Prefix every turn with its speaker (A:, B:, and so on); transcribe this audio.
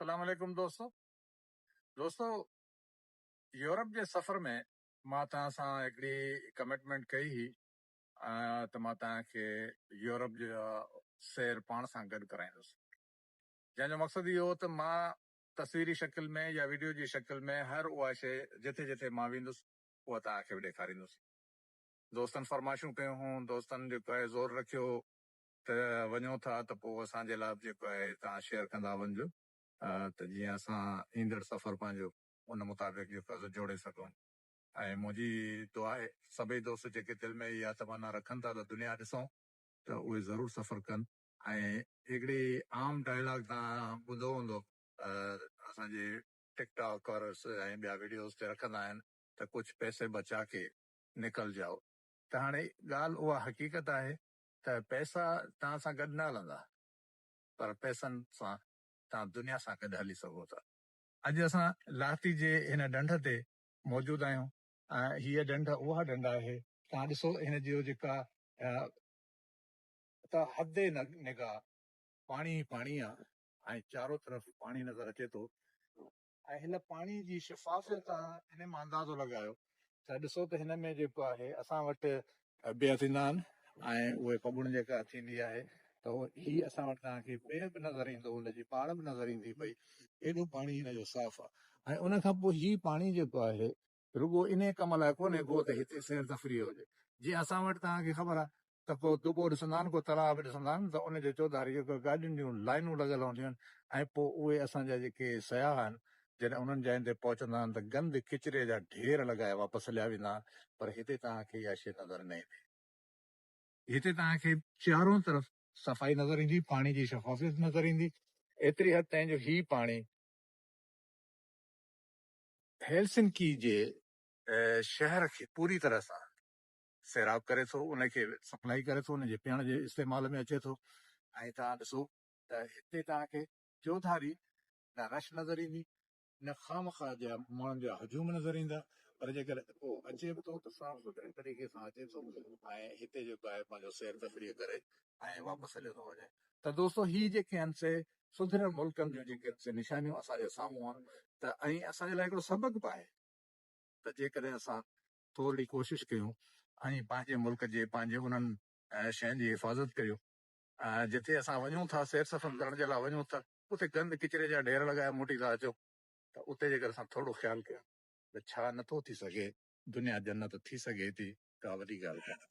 A: اسلام عليڪم دوستو دوستو يورپ جي سفر ۾ مان توهان سان هڪڙي ڪمٽمينٽ ڪئي هئي ته مان توهان کي يورپ جي سير پاڻ سان گڏ ڪرائيندس جنهن جو مقصد اهو هو ته مان تصويري شڪل ۾ يا وڊيو جي شڪل ۾ هر اها شئي جٿي جٿي مان ويندس اها توهان کي به ڏيکاريندس دوستن فرمائشون ڪيون هون دوستن جيڪو آهي زور رکيو هو ته وڃو ٿا ته پوء اسان جي لاء به جيڪو آهي توهان شيئر ڪندا وڃجو ته جيئن اسان ايندڙ سفر پنهنجو ان مطابق جيڪو آهي سو جوڙي سگهون ۽ منهنجي دعا آهي سڀئي دوست جيڪي دل ۾ اها تمنا رکن ٿا ته دنيا ڏسون ته اهي ضرور سفر ڪن ۽ هڪڙي عام ڊائلاگ توهان ٻڌو هوندو اسان جي ٽڪ ٽاڪ اور ۽ ٻيا ويڊيوز تي رکندا آهن ته ڪجهه پيسي بچا ڪي نڪل جائو ته هاڻي ڳالهه اها حقيقت آهي ته پئسا توهان سان گڏ نه هلندا پر پئسن سان توهان دنيا سان گڏ هلي سگهو ٿا. اڄ اسان لاهتي جي هن ڍنڍ تي موجود آهيون ۽ هيء ڍنڍ اها ڍنڍ آهي توهان ڏسو هن جيو جيڪا ته حد نگاهه پاڻي ئي پاڻي آهي ۽ چارو طرف پاڻي نظر اچي ٿو ۽ هن پاڻي جي شفافيت تان هن مان اندازو لڳايو ته ڏسو ته هن ۾ جيڪو آهي اسان وٽ بيهه ٿيندا آهن ۽ اهي ڦٻڻ جيڪا ٿيندي آهي ته هي اسان وٽ توهان کي بيهه به نظر ايندو ان جي پاڙ به نظر ايندي پئي ايڏو پاڻي هن جو صاف آهي ۽ ان کان پوء هي پاڻي جيڪو آهي رڳو انهيء ڪم لاء ڪونهي گو ته هتي سير تفريح هجي. جيئن اسان وٽ توهان کي خبر آهي ته ڪو دٻو ڏسندا آهن، ڪو تلاء به ڏسندا آهن ته ان جي چوڌاري جيڪو گاڏين جون لائنون لڳل هونديون آهن ۽ پوء اهي اسان جا جيڪي سياح آهن جڏهن انهن جاين تي پهچندا آهن ته گند ڪچري جا ڍير لڳائي واپس هليا ويندا آهن پر هتي توهان کي اها شيء نظر نه ايندي. هتي توهان کي چارون طرف صفائي نظر ايندي، پاڻي جي شفافيت نظر ايندي، ايتري حد تائين جو هي پاڻي. هيلسنڪي جي شهر کي پوري طرح سان سيراب ڪري ٿو ان کي سپلائي ڪري ٿو ان جي پيئڻ جي استعمال ۾ اچي ٿو ۽ توهان ڏسو ته هتي توهان کي چوڌاري نه رش نظر ايندي نه خامخواه جا ماڻهن جا هجوم نظر ايندا پر جيڪڏهن ڪو اچي به ٿو ته صاف سٿري طريقي سان اچي ٿو ۽ هتي جيڪو آهي پنهنجو سير تفريح ڪري ۽ واپس هليو ٿو وڃي ته دوستو هي جيڪي آهن سي سڌريل ملڪن جون جيڪي سي نشانيون اسان جي سامهون آهن ته ۽ اسان جي لاء هڪڙو سبق به آهي ته جيڪڏهن اسان ٿورڙي ڪوشش ڪيون ۽ پنهنجي ملڪ جي پنهنجي انهن شين جي حفاظت ڪريون جتي اسان وڃون ٿا سير سفر ڪرڻ جي لاء وڃون ٿا اتي گند ڪچري جا ڍير لڳائي موٽي ٿا اچون ته اتي جيڪر اسان ٿورڙو خيال ڪيون ته ڇا نٿو ٿي سگهي دنيا جنت ٿي سگهي ٿي ڪا وڏي ڳالهه ڪانهي.